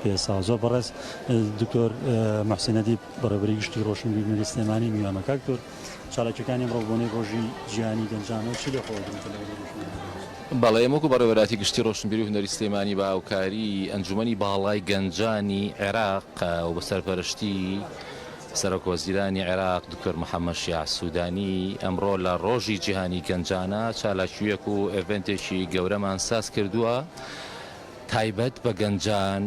پێساو زۆر بەڕێز دکتۆر محسن ئەدیب بەڕێوەبەری گشتی ڕۆشنبیرنەری سلێمانی میوانمە کاک دکتۆر چالاکیەکانی ئەمڕۆ بۆنەی ڕۆژی جیهانی گەنجانەوە چی لە خۆوە گرنگتر لە بەرەی ڕۆشنبیری؟ بەڵێ ئێمە وەکو بەڕێوەراتی گشتی ڕۆشنبیری و هونەری سلێمانی بە هاوکاری ئەنجومەنی باڵای گەنجانی عێراق و بە سەرپەرشتی سەرۆک وەزیرانی عێراق دکتۆر محەمەد شیاع سودانی ئەمڕۆ لە ڕۆژی جیهانی گەنجانە چالاکیویەک و ئێڤێنتێکی گەورەمان ساز کردووە تایبەت بە گەنجان،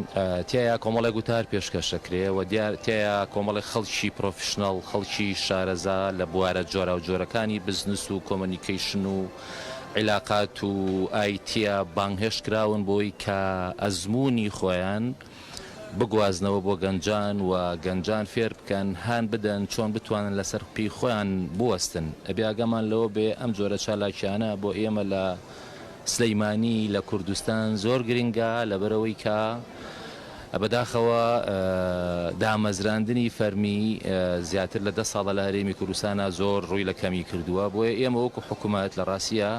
تیایا کۆمەڵێک وتار پێشکەش دەکرێ و تیایا کۆمەڵێک خەڵکی پرۆفیشناڵ، خەڵکی شارەزا لە بوارە جۆراوجۆرەکانی بزنس و کۆمۆنیکەیشن و عیلاقات و ئای تیا بانگهێشت کراون بۆی کە ئەزموونی خۆیان بگوازنەوە بۆ گەنجان و گەنجان فێر بکەن هان بدەن چۆن بتوانن لەسەر پێی خۆیان بوەستن. ئەبێ ئاگامان لەوە بێ ئەم جۆرە چالاکیانە بۆ ئێمە لە. سلیمانی لە کوردستان زۆر گرنگە لەبەرئەوەی کە بەداخەوە دامەزراندنی فەرمی زیاتر لە دە ساڵە لە هەرێمی کوردستانا زۆر ڕووی لە کەمی کردووە بۆیە ئێمە وەکو حکومەت لە ڕاستیا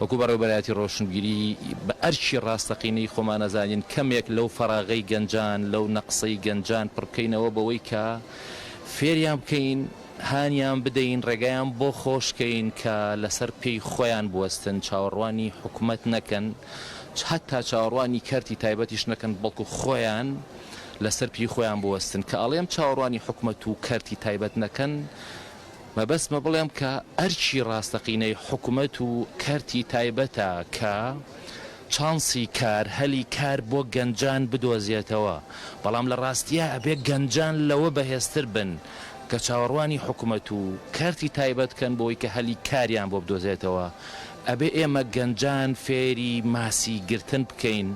وەکو بەڕێوبەرایەتی ڕۆشنبیری بە ئەرکی ڕاستەقینەی خۆمان ئەزانین کەمێک لەو فەراغەی گەنجان لەو نەقسەی گەنجان پڕبکەینەوە بەوەی کە فێریان بکەین هانیان بدەین ڕێگایان بۆ خۆش کەین کە لەسەر پێی خۆیان بوەستن چاوەڕوانی حکومەت نەکەن هەتا چاوەڕوانی کەرتی تایبەتیش نەکەن بەڵکو خۆیان لەسەر پێی خۆیان بوەستن کە ئەڵێم چاوەڕوانی حکومەت و کەرتی تایبەت نەکەن مەبەستمە بڵێم کە ئەرکی ڕاستەقینەی حکومەت و کەرتی تایبەتە کە چانسی کار هەلی کار بۆ گەنجان بدۆزێتەوە، بەڵام لە ڕاستیا ئەبێ گەنجان لەوە بەهێزتر بن کە چاوەڕوانی حکومەت و کەرتی تایبەت کەن بۆی کە هەلی کاریان بۆ بدۆزێتەوە، ئەبێ ئێمە گەنجان فێری ماسی گرتن بکەین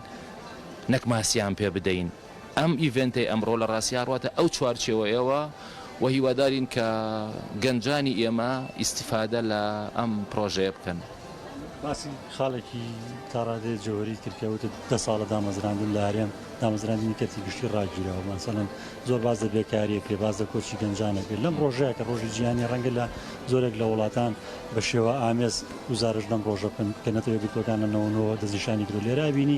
نەک ماسیان پێ بدەین. ئەم ئیڤێنتەی ئەمڕۆ لە ڕاستیا ڕواتە ئەو چوارچێوەیەوە و هیوادارین کە گەنجانی ئێمە ئیستیفادە لە ئەم پڕۆژەیە بکەن. باسی خاڵێکی تا ڕادەیە جەوهەری کرد کە وتت دە ساڵە دامەزراندن لە هەرێم دامەزراندنی کەرتی گشتی ڕاگیراوە مەسەلەن زۆر باس لە بێکارییە کرێ باس لە کۆچی گەنجانە کرد لەم ڕۆژەیە کە ڕۆژی جیهانی ڕەنگە لە زۆرێک لە وڵاتان بە شێوە ئامێز گزارش لەم ڕۆژە بکەن کە نەتەوە یەکگرتووەکان لە نەوەنەوە دەستنیشانی کرد لێرا بینی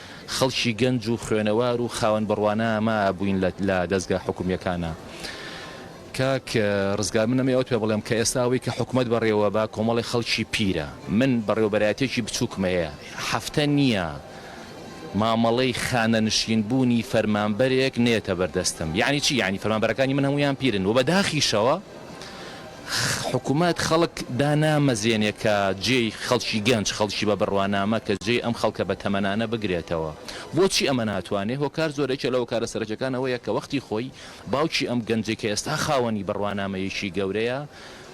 خەڵکی گەنج و خوێنەوار و خاوەن بڕوانە ما بووین لە دەزگا حکومیەکانا. کاک ڕزگار من ئەمەی ئەوت پێ بڵێم کە ئێستا ئەوەی کە حکومەت بەڕێوە با کۆمەڵی خەڵکی پیرە من بەڕێوبەرایەتێکی بچووکمە هەیە حەفتە نییە مامەڵەی خانە نشین بوونی فەرمانبەرێک نێتە بەردەستم یانی چی یانی فەرمانبەرەکانی من هەموویان پیرن وە بەداخیشەوە حکومەت خەڵک دانامەزێنێ کە جێی خەڵکی گەنج، خەڵکی بە بڕوانامە کە جێی ئەم خەڵکە بە تەمەنانە بگرێتەوە. بۆچی ئەمە ناتوانێ؟ هۆکار زۆرە یەکێ لە هۆکارە سەرەکیەکان ئەوەیە کە وەختی خۆی باوکی ئەم گەنجەی کە ئێستا خاوەنی بڕوانامەیەکی گەورەیە،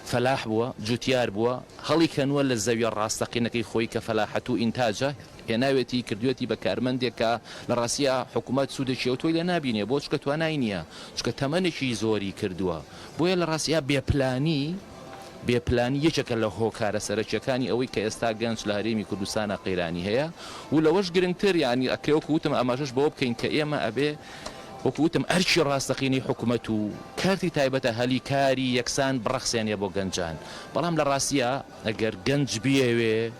فەلاح بووە، جوتیار بووە، هەڵی کەنووە لە زەویە ڕاستەقینەکەی خۆی کە فەلاحەت و ئینتاجە، هێناوێتی کردوێتی بە کارمەندێک کە لە ڕاستیا حکومەت سوودێکی ئەوتۆی لێ نابینێ بۆ چونکە توانای نییە چونکە تەمەنێکی زۆری کردووە. بۆیە لە ڕاستیا بێ پلانی بێ پلانی یەکێکە لە هۆکارە سەرەکیەکانی ئەوەی کە ئێستا گەنج لە هەرێمی کوردستانا قەیرانی هەیە و لەوەش گرنگتر یانی ئەکرێ وەکو وتم ئاماژەش بەوە بکەین کە ئێمە ئەبێ وەکو وتم ئەرکی ڕاستەقینەی حکومەت و کارتی تایبەتە هەلی کاری یەکسان بڕەخسێنێ بۆ گەنجان بەڵام لە ڕاستیا ئەگەر گەنج بیەوێ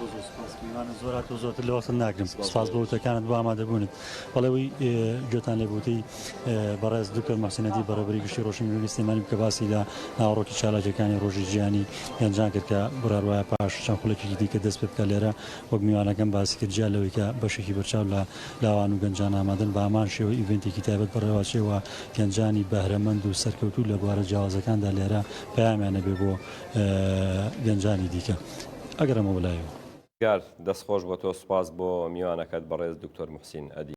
زۆر زۆر سوپاس میوانە زۆر هاتۆ زۆرتر لە وەختم ناگرم سوپاس بۆ وتەکانت بۆ ئامادەبوونت بەڵێەوەی گوێتان لێ بوتی بەڕێز دکتۆر مەحسینەتی بەڕێبری گشتی ڕۆشن گوێی سلێمانی کە باسی لە ناوەڕۆکی چالاکیەکانی ڕۆژی جیانی گەنجان کرد کە بڕاروایە پاش چەند خولێکی دیکە دەست پێ بکە لێرە وەک میوانەکەم باسی کرد جیا لەوەی کە بەشێکی بەرچاو لە لاوان و گەنجان ئامادەن بە هەمان شێوە ئیڤنتێکی تایبەت بەڕێواچێەوە گەنجانی بەهرەمەند و سەرکەوتوو لە بوارە جیاوازەکاندا لێرە پەیامیانە بێ بۆ گەنجانی دیکە ئەگەڕێمەوە لای و. گار، دەست خۆش بۆ تۆ سوپاس بۆ میوانەکەت بەڕێز دکتۆر موحسین ئەدی.